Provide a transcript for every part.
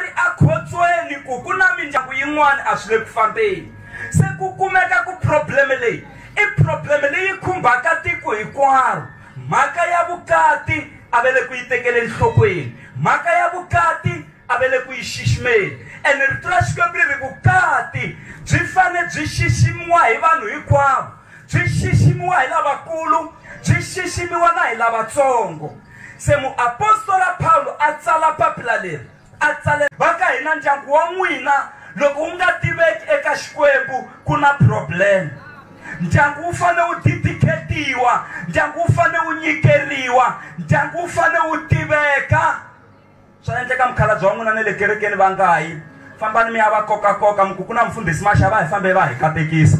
ri ekhotsweni ku ku na mindyangu yin'wana a swi le ku fambeni se ku kumeka ku probleme leyi i probleme leyi khumbaka tiko hinkwaro mhaka ya vukati a ve le ku yi tekele enhlokweni mhaka ya vukati a ve le ku yi xiximeni ene rito ra xikwembu ri ri vukati byi fane byi xiximiwa hi vanhu hinkwavo byi xiximiwa hi lavakulu byi xiximiwa na hi lavatsongo Se muapostola Pawulo a tsala papila leri, a tsalela. Va ka hina, Ndyangu wa n'wina loko wu nga tiveki eka Xikwembu, ku na problem. Ndyangu wu fanele wu didikhetiwa, ndyangu wu fanele wu nyikeriwa, ndyangu wu fanele wu tiveka. Swa endleka mukhalabye wa n'wina na le kerekeni va nga yi. Fambani mi ya va kokakoka mi ku ku na mufundhisi Masha va hi fambe va hi katekisa.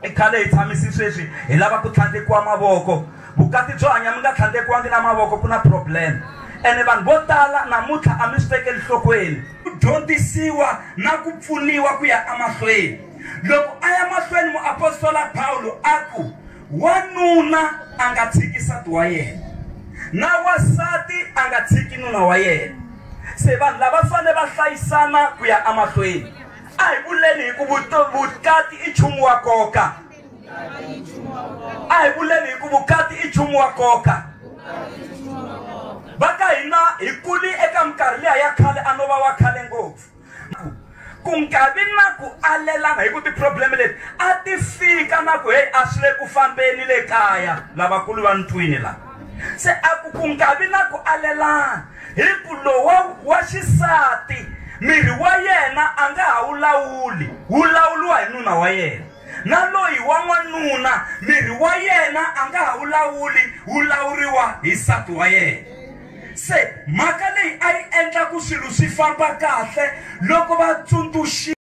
I khale hi tshamisi sweswi hi lava ku tlhandlekiwa mavoko. Vukati byo hanya mi nga tlhandlekiwangi na mavoko ku na problem. Ene vanhu vo tala namuntlha a mi swi tekeli nhlokweni. Ku dyondzisiwa na ku pfuniwa ku ya emahlweni. Loko a ya mahlweni muapostola Pawulo a ku, Wanuna a nga tshiki nsati wa yena na wansati a nga tshiki nuna wa yena se vanhu lava fanele va hlayisana ku ya emahlweni a hi vuleni hi ku vukati i nchumu wa nkoka a hi vuleni hi ku vukati i nchumu wa nkoka va ka hina hi kuli eka minkarhi liya ya khale a no va wa khale ngopfu Ku nga vi na ku alelana hi ku tiphurobleme leti a ti fika na ku heyi a swi le ku fambeni le kaya lavakulu va ntwini la se a ku ku nga vi na ku alelana hi ku lowa wa xisati miri wa yena a nga ha wu lawuli wu lawuliwa hi nuna wa yena na loyi wa n'wanuna miri wa yena a nga ha wu lawuli wu lawuriwa hi nsati wa yena Se mhaka leyi a yi endla ku swilo swi famba kahle loko va tsundzuxi.